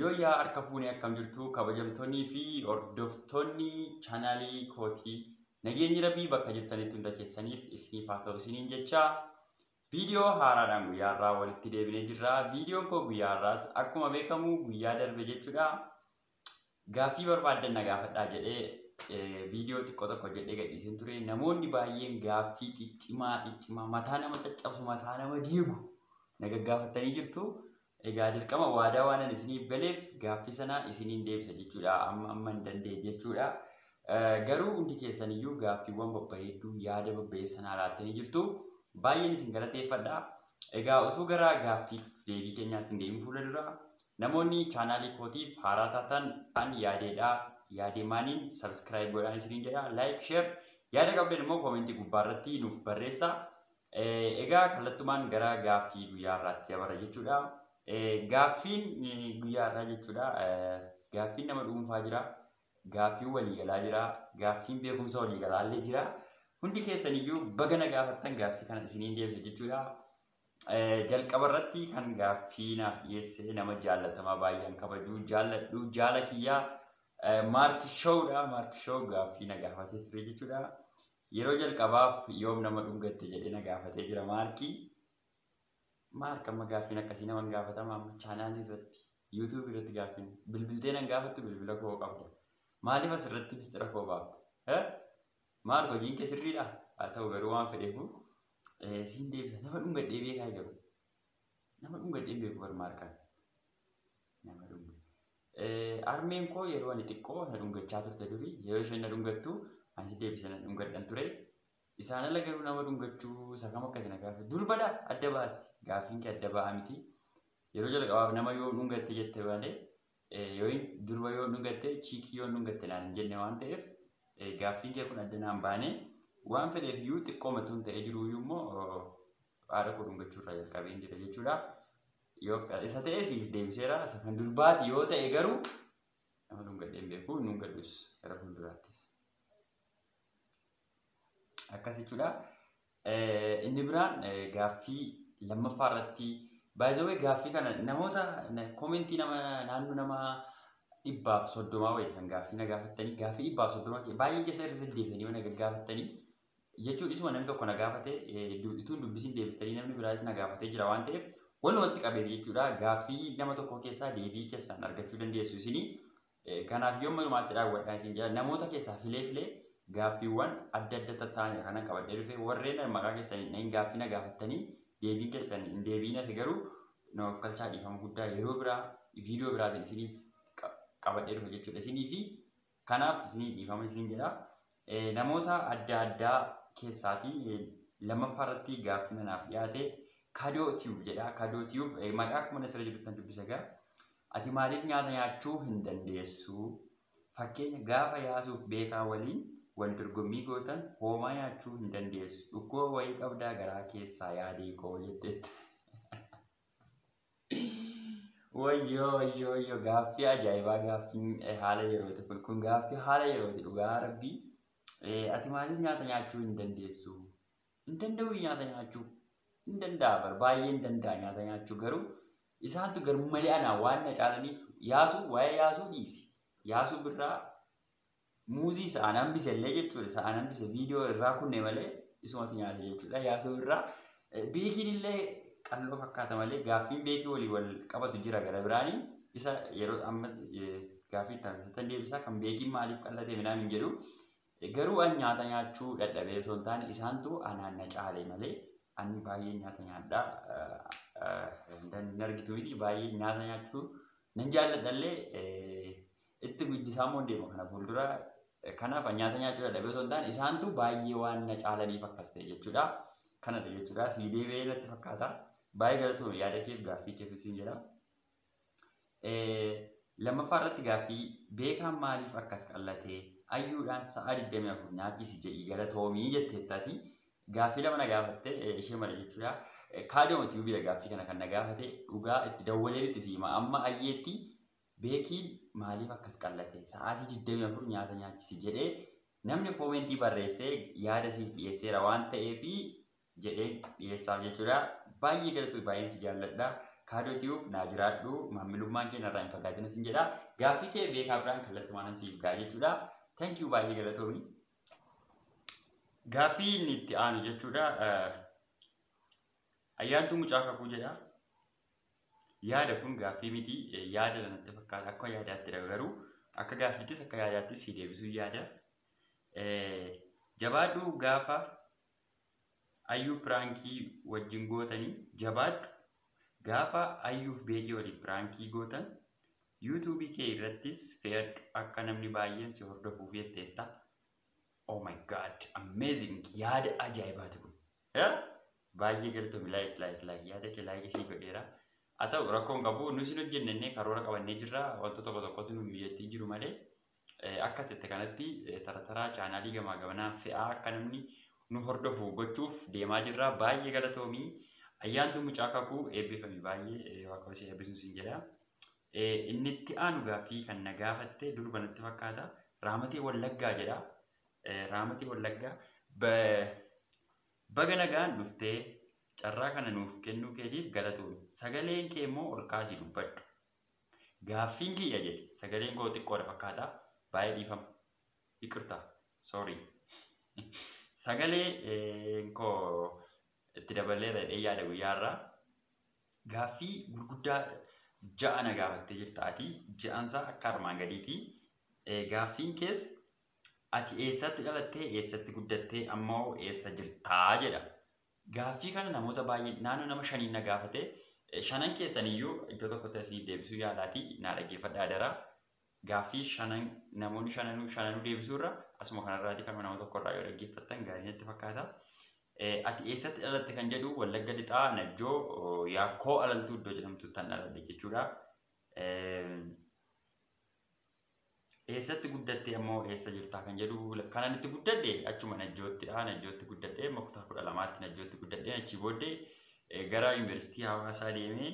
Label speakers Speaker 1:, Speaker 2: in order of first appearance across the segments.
Speaker 1: Yooyyaa harka fuunee akkam jirtu kabajamtoonnii fi hordoftoonni chaanaalii kootii nageenyi rabbii bakka jirtanitti hunda keessaniif isiniif haa ta'u isiniin jecha viidiyoo haaraadhaan guyyaa irraa walitti deebinee jirra. Viidiyoon koo guyyaa irraas akkuma beekamu guyyaa darbe jechuudha. Gaaffii barbaaddan na gaafadhaa jedhee viidiyoo xiqqoo tokko jedhee gadhiiseen ture. Namoonni baay'een gaaffii ciccimaa ciccimaa mataa nama caccabsu mataa nama diigu na gaggaafattanii jirtu. Egaa dirqama waadaa waanan isiniif galeef gaaffii sana isiniin deebisa jechuudha. Amma amma hin dandeenye jechuudha. Garuu hundi keessan iyyuu gaaffiiwwan babbareedduu yaada babbareessa naa laattanii jirtu. Baay'een isin galateeffadha. Egaa osoo gara gaaffii deebii keenyaatti hin deemin fuula dura namoonni chaanaalii kootiif haaraa taatan an yaadeedha. Yaadee maaniin sabiskiraayib godhaan isiniin jedha. Laayik, sheer yaada qabdan immoo koomentii gubbaa irratti nuuf barreessa. Egaa kallattumaan gara gaaffii guyyaa irraatti dabarra jechuudha. Gaaffiin guyyaa irraa jechuudha. Gaaffiin nama dhuunfaa jira. Gaaffiin waliigalaa jira. Gaaffiin beekumsa waliigalaa illee jira. Hundi keessan iyyuu baga na gaafattan gaaffii kana isiniin deebisa jechuudha. Jalqaba irratti kan gaaffii naaf dhiyeesse nama jaallatamaa baay'een kabajuu jaalladhu jaala kiyyaa Maarki Showdha. Maarki Show gaaffii na gaafatee ture jechuudha. Yeroo jalqabaaf yoom nama dhungatte jedhee na gaafatee jira Maarki. Maark amma gaaffiin akkasii nama hin gaafatama amma chaanaalii irratti yuutuubii irratti gaaffiin bilbiltee nan gaafattu bilbila koo qabda. Maaliif asirratti mistira koo baafta? Eh? Maark hojiin kee sirriidha? Haa ta'u garuu waan fedheefu eh, siin deebisa nama dhungadhee beekaa garuu. Nama dhungadhee hin beeku bar Maarkaan. Nama dhungadhee. Harmeen koo yeroo ani xiqqoo na dhungachaa turte duri. Yeroo isheen na dhungattu anis deebisee nan dhungadhan ture. Isaan ala garuu nama dhungachuu isa kam akka na gaafate. Durbadha adda baasti. Gaaffiin kee adda ba'aa miti. Yeroo jalqabaaf nama yoo dhungatte jette malee yoo durba yoo dhungatte chiikii yoo dhungatte naan hin jenne waan ta'eef gaaffiin kee kun adda naan baane waan fedheef iyyuu xiqqoo matuun ta'ee jiru iyyuu immoo haadha koo dhungachuu irraa jalqabeen jira jechuudha. Yoo akka isa ta'e siif deebiseera. Isa kan durbaati yoo ta'e garuu nama dhungadhee hin beeku hin dhungadhus gara fuulduraattis. Akkas jechuudha. Eh, Inni biraan eh, gaaffii lammaffaa irratti baay'ee gaaffii kana namoota na- komentii nama naannoo nama dhibbaaf soddomaa wayii kan gaaffii na gaafattanii gaaffii dhibbaaf soddomaa kee baay'ee keessa irra deddeebi'anii mana gaggaafattanii jechuu dhisuma namni tokko na gaafate utuu hin dubbisin deebistanii namni biraas na gaafatee jira waan ta'eef walumatti qabeeti jechuudha. Gaaffii nama tokkoo keessaa deebii keessan argachuu dandeessu isinii. Kanaaf yoo malumaatti daawwadhaa isin jedha namoota keessaa filee filee gaaffiiwwan adda adda tattaa'an kanan qabadhee dhufe warreen maqaa keessan hin gaaffii na gaafattanii deebiin keessan hin deebiin hafe garuu namaaf kalchaa dhiifama guddaa yeroo biraa viidiyoo biraatiin isiniif qabadhee dhufe jechuudha isinii fi Kanaaf isinii dhiifama isiniin jedha. Eh, Namoota adda addaa keessaatii eh, lammaffaa irratti gaaffina naaf dhiyaate kadoo tiyuub jedha. Kadoo tiyuub eh, maqaa akkuma nasira jiruttan dubbisa egaa. Ati maaliif nyaata nyaachuu hin dandeessu? Fakkeenya gaafa yaasuuf beekaa waliin wal dorgommii gootan hoomaa nyaachuu hin dandeessu. Dhukkuba wayii qabdaa garaa keessaa yaadee koo jetteetta. Wayyoo wayyoo wayyoo gaaffii ajaa'ibaa gaaffiin eh, haala yerooti kun kun gaaffii haala yerooti dhugaa rabbii Eh, ati maaliif nyaata nyaachuu hin dandeessu hin danda'u nyaata nyaachuu hin danda'a bar baay'ee hin danda'a nyaata nyaachuu garuu isaantu garmalee anaa waan na caalaniif yaasuu waa'ee yaasuu dhiisi yaasuu birraa muuzii isa an hambise illee jechuudha isa an hambise viidiyoo irraa kunne malee isumatu nyaate jechuudha yaasoo irraa Eh, beekiin illee qalloo fakkaata malee gaaffiin beekii walii wal qabatu jira gara biraanii isa yeroo amma eh, gaaffii itti aansitan deebisaa kan beekiin maaliif qallatee midhaan hin jedhu Eh, garuu an nyaata nyaachuu dadhabee osoo hin taane isaantu anaan na caale malee an baay'ee nyaata nyaadha Eh, eh, hin argitu miti baay'ee nyaata nyaachuu nan jaalladhallee eh, Itti guddisaa immoo deema kana fuuldura. Kanaaf nyaata nyaachuu dadhabee osoo hin taane isaantu baay'ee waan na caalaniif akkas ta'e jechuudha. Kanadha jechuudha. Sii deebi'ee natti fakkaata. Baay'ee galatoomi yaada keef gaaffii keef isin jedha. Lammaffaa irratti gaaffii beekaan maaliif akkas qallatee ayyuudhaan sa'aa 24 nyaachisi jedhii galatoomii jetteettaati. Gaaffii lama na gaafatte ishee mala jechuudha. Kaadiyoo mati bira gaaffii kana kan na gaafate dhugaa itti dawwaleen itti siima amma ayyeetti Beeki maaliif akkas qal'ate? Sa'aatii 24 nyaata nyaachisi jedhee namni koomentii barreesse yaada siif dhiyeesseera waan ta'eef jedheen dhiyeessaaf jechuudha. Baay'ee galatoomii baay'een si jaalladha. Kaadoo Tiyuub naa jiraadhu maamilummaan kee narraa hin fagaatina sin jedha. Gaaffii kee beekaa biraan kallattumaanan siif ga'a jechuudha. Thank you baay'ee galatoomii. Gaaffii inni itti aanu jechuudha. Ayyaantuu mucaa kakuu jedha. Yaada kun gaaffii miti yaada dha natti fakkaata akka yaadaatti dha garuu akka gaaffiittis akka yaadaattis si deebisuu yaada. Jabaadhu gaafa ayyuu piraankii wajjin gootanii jabaadhu gaafa ayyuuf beekii waliin piraankii gootan yuutuubii kee irrattis fe'adhu akka namni baay'een si hordofuuf jetteetta. Oh my god amazing yaada ajaa'ibaati kun. Eh? Baay'ee galatomi laayik laayik laayik yaada kee laayik isii godheera. Haa ta'u rakkoon qabu nu isin hojjennee karoora qabannee jirra wantoota tokko tokkotu nu mijeettii jiru malee eh, akka tette kanatti eh, tara taraa chaanaalii gamaa gamanaan fe'aa akka namni nu hordofu gochuuf deemaa jirra baay'ee galatoomi ayyaantu mucaa kakuu eebbifami baay'ee eh, waaqayyo si eebbisuun siin jedha. Eh, Inni itti aanu gaaffii kan na gaafatte durba natti fakkaata raamatee wallaggaa jedha Raamatii Wallaggaa baga nagaan dhuftee carraa kana nuuf kennuu keetiif galatoomi. Sagaleen kee immoo ol kaasii dubbadhu. Gaaffiin kiyya jedhe sagaleen koo xiqqoodha fakkaata baay'ee dhiifama. Iqirtaa, sorry. Sagalee koo itti dabaleera jedhee yaada guyyaa irraa. Gaaffii gurguddaa ja'a na gaafattee jirta ati. Ja'ansaa akka armaan gadiiti. Gaaffiin kees Ati eessatti dhalattee, eessatti guddattee, amma hoo eessa jirtaa? jedha. Gaaffii kana namoota baay'een naannoo nama shaniin na gaafate. Shanan keessan iyyuu iddoo tokkotti isiniif deebisuu yaalaati naa dhaggeeffadha adaraa. Gaaffii shanan namoonni shananuu shananuu deebisuu irra asuma kanarraati kanuma nama tokko irraa yoo dhaggeeffattan gaarii natti fakkaata. Ati eessatti dhalatte kan jedhu Wallagga Lixaa Najjoo Yaakkoo Alaltuu iddoo jedhamtutti kan dhaladhe jechuudha. Eessatti guddattee ammoo eessa jirtaa kan jedhu kanan itti guddadhe achuma Najjoottidha. Najjootti guddadhe amma kutaa kudha lamaatti Najjootti guddadhe achii booddee eh, gara yuunivarsiitii hawaasaa deemee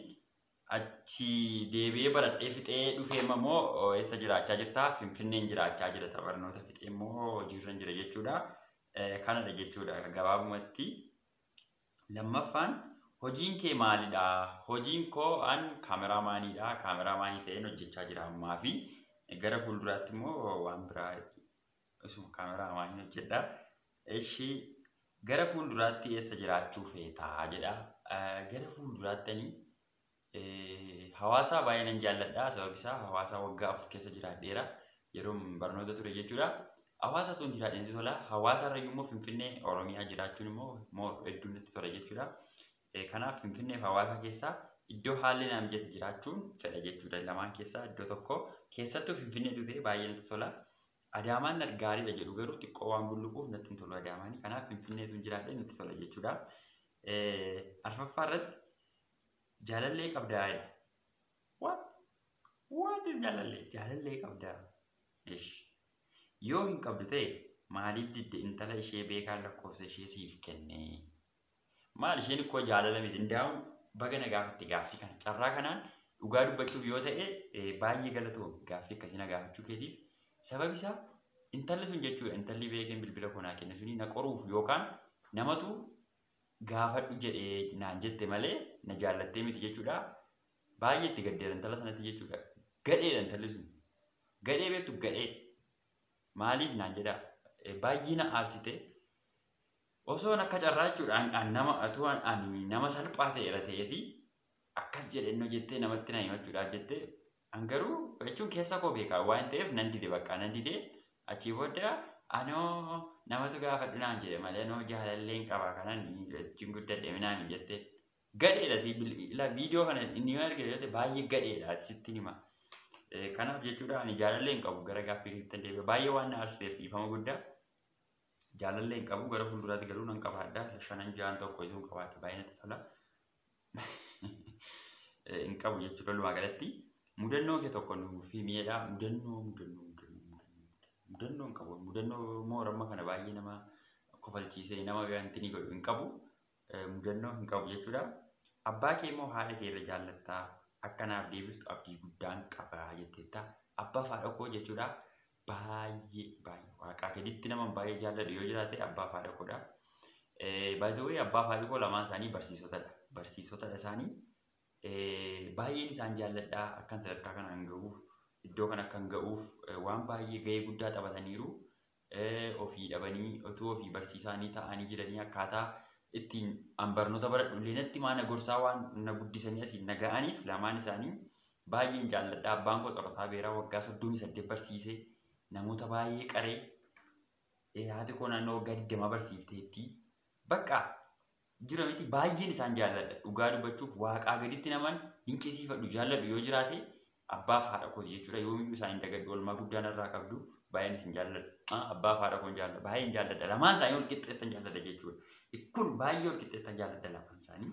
Speaker 1: achi deebi'ee baradhee fixee dhufee amma immoo oh, eessa jiraachaa jirtaa Finfinneen jiraachaa jira ta'a barnoota fixee immoo hojiirran jira jechuudha. Eh, Kanadha jechuudha gabaabumatti. Lammaffaan hojiin kee maalidha? Hojiin koo an kaameraamaaniidha. Kaameraamaanii ta'een hojjechaa jira ammaa fi gara fuulduraatti immoo waan biraa isuma kaameraamaaniin hojjedha. Eshi gara fuulduraatti eessa jiraachuu feetaa jedha. Gara fuulduraatti ani Hawaasaa baay'ee nan jaalladha sababi isaa hawaasaa waggaa afur keessa jiraadheera yeroo barnoota ture jechuudha. Hawaasa tun jiraadheen tola hawaasa irra immoo finfinnee oromiyaa jiraachuun immoo moo hedduu natti tola jechuudha. Kanaaf finfinnee fi hawaasa keessaa iddoo haalli naa mijate jiraachuun fedha jechuudha lamaan keessaa iddoo tokko keessattuu finfinnee tutee baay'ee natti tola. Adaamaan gaariidha jedhu garuu xiqqoo waan bulluquuf natti hin tolu adaamaanii kanaaf finfinnee tun jiraadhee natti tola jechuudha. Arfaffaa irratti Jaalallee qabdaa jedhe. What? What is jaalallee? Jaalallee qabdaa. Ish. Yoo hin qabdu ta'e maaliif didde intala ishee beekaan lakkoofsa ishee siif kenne? Maal isheen ikkoo jaalala miti indaa'u baga na gaafatte gaaffii kana. Carraa kanaan dhugaa dubbachuuf yoo ta'e eh, baay'ee galatoo gaaffii akkasii na gaafachuu keetiif. Sababi isaa intalli sun jechuudha intalli beekeen bilbila koo naa kenne suni na qoruuf yookaan namatu gaafadhu jedhe naan jette malee na jaallattee miti jechuudha. Baay'ee itti gaddeera intala sanatti jechuudha. Gadheedha intalli sun. Gadhee beektu gadhee. Maaliif naan jedha baay'ee na aarsite. Osoon akka carraa jechuudha an- an nama atuu an- ani nama salphaa ta'eera ta'eefi akkas jedhennoo jettee namatti na himachuudhaaf jettee An garuu jechuun keessa koo beeka waan ta'eef nan dide baqqaa nan dide achii booda anoo namatu gaafadhu naan jedhe malee anoo jaalalleen qaba kanan wajjin guddadhe minaan jette gadheedha ila viidiyoo kana inni yoo argite jette baay'ee gadheedha ati sittin hima. Kanaaf jechuudha ani jaalallee hin qabu gara gaaffii keessatti deebi'a baay'ee waan na aarsiseef dhiifama guddaa jaalallee hin qabu gara fuulduraatti garuu nan qabaadha shanan ja'an tokko iyyuu hin qabaadha baay'ee natti tola. hin qabu jechuudha walumaa galatti. Mudannoo kee tokko nuuf himiidha. Mudannoo mudannoo mudannoo mudannoo hin qabu. Mudannoo immoo ramma kana baay'ee nama kofalchiisee nama ganti ni godhu hin qabu. Mudannoo hin qabu jechuudha. Abbaa kee immoo haadha kee irra jaallattaa akka naaf deebiftu abdii guddaan qaba jetteetta. Abbaa fi haadha koo jechuudha. baay'ee baay'ee waaqaa gaditti naman baay'ee jaalladhu yoo jiraate abbaa fi haadha koodha. By the way abbaa fi haadhi koo lamaan isaanii barsiisotadha. Barsiisotadha isaanii eh, baay'een isaan jaalladha akkan sadarkaa kanaan ga'uuf iddoo kan akkan ga'uuf eh, waan baay'ee ga'ee guddaa taphataniiru. Eh, Ofii dhabanii utuu ofii barsiisaanii ta'anii jiranii akkaataa ittiin an barnoota baradhu illee natti maana gorsaa waan na guddisanii asiin na ga'aniif lamaan isaanii Baay'een jaalladha. Abbaan koo xorotaa beeraa waggaa 38 barsiise. Namoota baay'ee qaree. Eh, Haati koo naannoo waggaa 20 barsiifteetti. Bakka jira miti baay'een isaan jaalladha. Dhugaa dubbachuuf waaqaa gaditti naman dinqisiifadhu jaalladhu yoo jiraate abbaaf haadha kooti jechuudha. Yoomiyyuu isaan hin dagadhu oolmaa guddaa narraa qabdu. Baay'een isin jaalladha. Ah, Abbaaf haadha koon jaalladha. Baay'een jaalladha. Lamaan isaanii wal qixxeettan jaalladha jechuudha. Kun baay'ee wal qixxeettan jaalladha lamaan isaanii.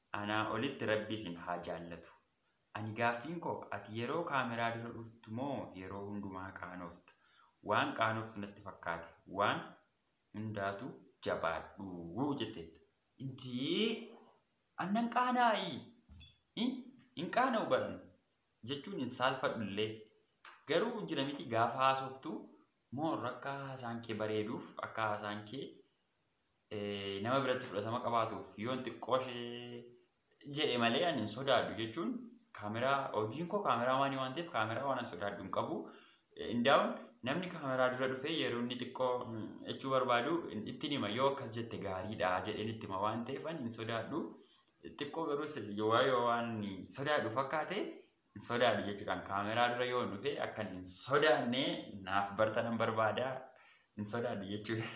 Speaker 1: Anaa olitti rabbi isin haa jaallatu. Ani gaaffiin koo ati yeroo kaameraa dura dhuftu moo yeroo hundumaa qaanofta? Waan qaanoftu natti fakkaate. Waan hundaatu jabaadhu jetteetta. Dee an nan qaanaa'i? I hin qaana'u bar ani jechuun hin saalfadhu illee. Garuu jira miti gaafa haasoftu more akka haasaan kee bareeduuf akka haasaan kee nama biratti fudhatama qabaatuuf yoon xiqqooshee jedhe malee ani hin sodaadhu jechuun kaameraa hojiin koo kaameraa waan waan ta'eef kaameraa waan sodaadhu hin qabu. Indaa'uun namni kaameraa dura dhufee yeroo inni xiqqoo jechuu barbaadu ittiin hima yoo akkas jette gaariidha jedheen itti hima waan ta'eef ani hin sodaadhu. Xiqqoo garuu yoo waan sodaadhu fakkaate hin sodaadhu jechuudhaan kaameraa dura yoo dhufe akkan hin sodaanne naaf bartanan barbaada hin sodaadhu jechuudha.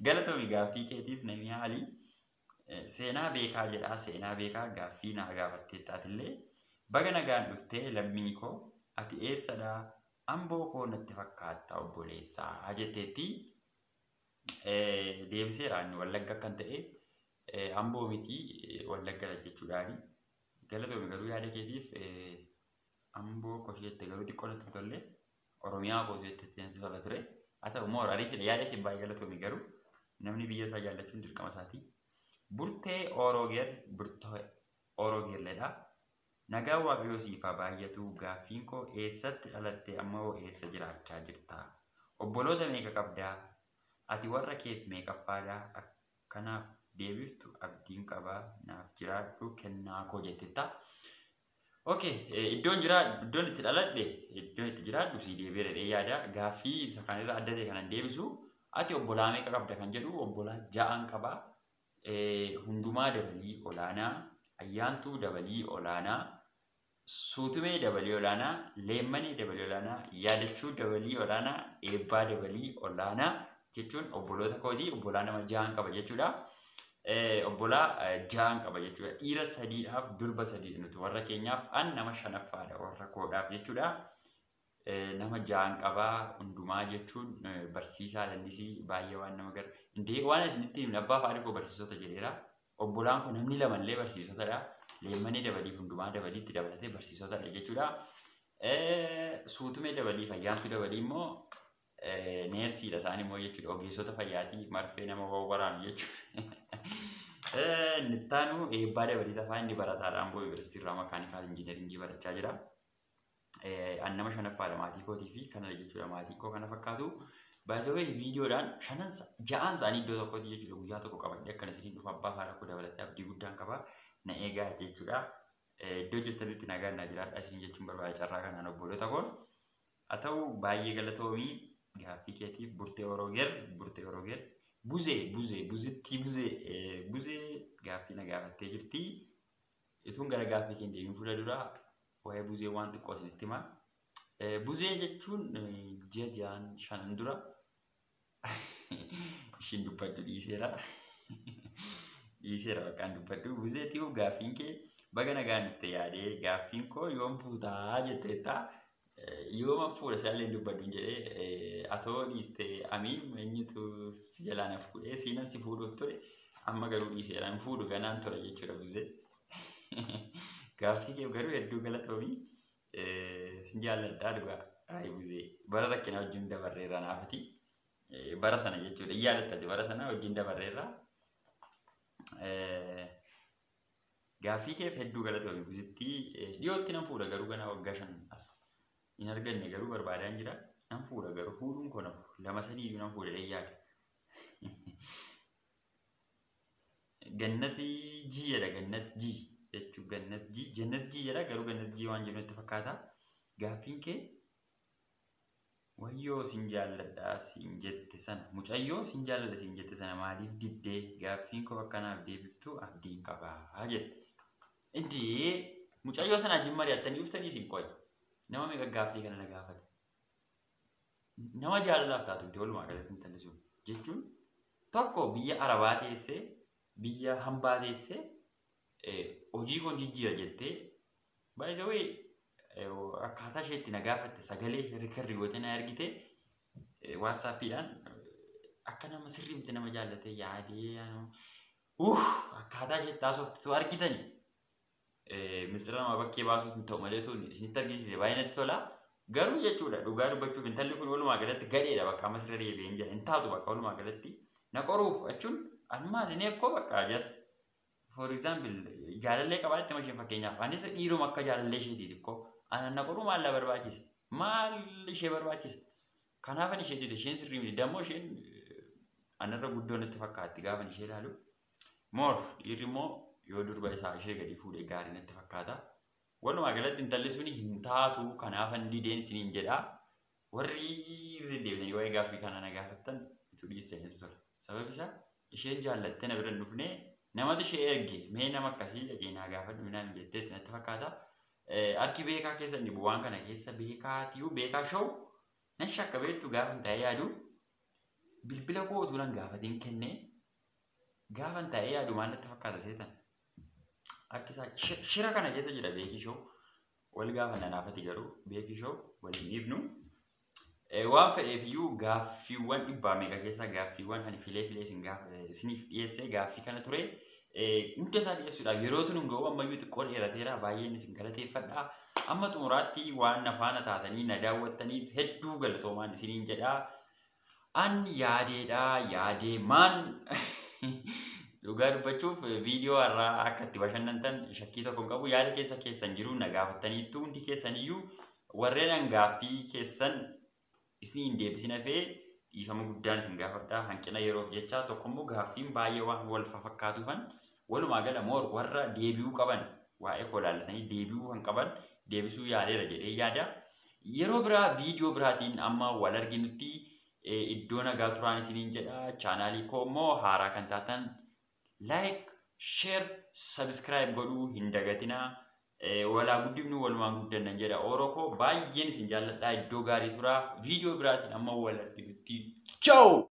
Speaker 1: Galatoomi gaaffii keetiif namni haali seenaa beekaa jedhaa seenaa beekaa gaaffii naa gaafatteettaatillee baga nagaan dhuftee lammii koo ati eessadha amboo koo natti fakkaatta obboleessaa jetteetti deebiseera inni wallagga akkan ta'e amboo miti wallagga jechuudhaani. Galatoomi garuu yaada keetiif amboo koshee jette garuu xiqqoo natti hin tolle oromiyaa kootu jette natti tola ture haa ta'u immoo ariitiin yaada kee baay'ee galatoomi garuu namni biyya isaa jaallachuun dirqama isaati. Burtee Oroogeer Burtee Oroogeerledha. Nagaa waaqayyoo siif haa baay'atu gaaffiin koo eessatti dhalatte amma hoo eessa jiraachaa jirta? Obboloota meeqa qabdaa? Ati warra keef meeqaffaadha? Kanaaf deebiftu abdiin qabaa naaf jiraadhu kennaa koo jettetta. Okay, iddoon jiraa iddoon itti dhaladhe iddoon itti jiraadhu sii deebi'ee jedhee yaada gaaffii isa kan irra adda ta'e kanan deebisu ati obbolaa meeqa qabda kan jedhu obbolaa ja'aan qaba hundumaa dabalii olaanaa ayyaantuu dabalii olaanaa Suutumee Dabalii Olaanaa, Leemmanee Dabalii Olaanaa, Yaadachuu Dabalii Olaanaa, Eebbaa Dabalii Olaanaa jechuun obboloota kooti. Obbolaa nama jahan qaba jechuudha. Obbolaa jahan qaba jechuudha. Dhiira sadiidhaaf durba sadii nuti warra keenyaaf an nama shanaffaadha warra koodhaaf jechuudha. nama ja'an qabaa hundumaa jechuun barsiisaa lallisii baay'ee waan nama gara indee waan isinitti himne abbaa faadhi koo barsiisota jedheera obbolaan kun namni lamallee barsiisotadha leemmanii dabalii hundumaa dabalii itti dabalatee barsiisotadha jechuudha suutumee dabalii fayyaantu dabalii immoo neersiidha isaan immoo jechuudha ogeessota fayyaatii marfee nama wawwaraanu jechuudha nittaanu eebbaa dabalii tafaa inni barataadhaan boo yuunivarsiitii irraa makaanikaal injiinaringii barachaa jira. an nama shanaffaadha maatii kootii fi kanadha jechuudha maatii koo kana fakkaatu. Baay'ee viidiyoodhaan shanan ja'aan isaanii iddoo tokkotti jechuudha guyyaa tokko qabadhee akkan isiniin dhufa abbaa haadha koo dabalatee abdii guddaan qaba na eegaa jechuudha. Iddoo jirtanitti nagaan na jiraadha isin jechuun barbaada carraa kanaan obboolota koon. Haa ta'u baay'ee galatoomii gaaffii keetiif burtee oroogeer burtee oroogeer buzee buzee buzittii buzee buzee gaaffii na gaafattee jirti. Ituun gara gaaffii keenya deemuun fuula duraa Waa'ee buzee waan xiqqoo isinitti hima. Buzee jechuun ji'a ja'an shanan dura ishiin dubbadhu dhiiseera. Dhiiseera bakkaan dubbadhu. Buzee xiqqoo gaaffiin kee baga nagaan dhufte yaadee gaaffiin koo yoom fuutaa jetteetta. Yooma fuudha isaallee dubbadhu jedhee atoo dhiiste amii eenyutu si jalaa na fuudhee siinan si fuudhuuf ture amma garuu dhiiseera hin fuudhu ganaan ture jechuudha buzee. Gaaffii kee garuu hedduu galatoomii sin jaalladhaa dhugaa Ayi Buzee bara rakkinaa wajjin dabarreerra naafati bara sana jechuudha hin yaadattati bara sana wajjin dabarreerra gaaffii keef hedduu galatoomii Buzittii dhiyootti nan fuudha garuu ganaa waggaa shan as hin arganne garuu barbaadaan jira nan fuudha garuu fuudhuun koo nafu lama sadii iyyuu nan fuudha dheeyyaadha. Gannati G jedha gannat G jechuun gannat G jannat G jedha garuu gannat G waan jennu itti fakkaata. Gaaffiin kee wayyoo sin jaalladha sin jette sana mucayyoo sin jaalladha sin jette sana maaliif diddee gaaffiin koo akkanaaf deebiftu abdiin qabaa jette. Iddii mucayyoo sana ajjin mari'attanii dhuftanii isin qoy nama meeqa gaaffii kana na gaafate. Nama jaalalaaf taatu miti walumaa galatti intalli sun. Jechuun tokko biyya Arabaa teessee, biyya hambaa teessee, hojii koo jijjiira jettee, baay'isa wayii akkaataa ishee itti na gaafatte sagalee ishee rikardi gootee na ergite waatsaappiidhaan akka nama sirrii miti nama jaallatee yaadee uuf akkaataa ishee itti haasoftu argitanii. Misira namaa bakkee baasuuf hin ta'u malee tun isinitti argisiise baay'ee natti tola. Garuu jechuudha dhugaa dubbachuuf intalli kun walumaa galatti gadheedha bakka amma sirra deebi'een jira hin taatu bakka walumaa galatti na qoruuf jechuun an maali inni akkoo bakka just for example jaalallee qabaa itti masheen fakkeenyaaf anis dhiiruma akka jaalallee isheetii xiqqoo anan na qoruu maallaa barbaachisa maal ishee barbaachisa kanaafan ishee dide isheen sirrii miti dammoo isheen anarra guddoo natti fakkaatti gaafan ishee ilaalu Moor dhiirri immoo yoo durba isaa ishee gadi fuudhe gaarii natti fakkaata. Walumaa galatti intalli suni hin taatu kanaafan dideen isiniin jedha. Warri irra deebitanii waa'ee gaaffii kanaa na gaafattan ituu dhiistaniitu tola. Sababi isaa isheen jaallattee na bira hin dhufne namatu ishee erge mee nama akkasii dhaqee naa gaafadhu minaan hin jetteetti natti fakkaata. Harki beekaa keessa inni waan kana keessa beekaa tiyuu beekaa show nan shakka beektu gaafa hin ta'ee yaadu bilbila koo utuu nan gaafatiin kennee Gaafan taa'ee yaadu maal natti fakkaata seetan? Harki isaa shi- shira kana keessa jira beekii shoo. Wal gaafa nanaafati garuu beekii shoo waliin dhiifnu. Eh, Waan fedheef iyyuu gaaffiiwwan dhibbaa meeqa keessaa gaaffiiwwan ani filee filee isin gaaf- eh, isiniif dhiyeessee gaaffii kana ture. Eh, Hunda isaa dhiyeessuudhaaf yeroo tun hin ga'u ammayyuu xiqqoo dheerateera baay'een isin galateeffadha. Amma xumuraatti waan na faana taatanii na daawwattaniif hedduu galatoomaan isiniin jedha. An yaadeedha yaadee maan dhugaa dubbachuuf viidiyoo har'aa akka itti bashannantan shakkii tokko hin qabu yaada keessa keessan jiru na gaafattaniittu hundi keessan iyyuu warreen an gaaffii keessan isin hin deebisin hafee dhiifama guddaan isin gaafadha hanqina yeroof jecha tokko immoo gaaffiin baay'ee waan wal fakkaatuufan Walumaa gala more warra deebi'uu qaban waa'ee koo ilaallatanii deebi'uu kan qaban deebisuu yaaleera jedhee yaada. Yeroo biraa viidiyoo biraatiin amma wal arginutti eh, iddoo nagaa turaan isiniin jedha. Chaanaalii koo immoo haaraa kan taatan like, share, subscribe godhuu hin dagatinaa. Eh, Walaa guddifnu walumaan guddanna jedha ooroo koo baay'een isin jaalladhaa iddoo gaarii turaa viidiyoo biraatiin amma wal arginutti. Ciao!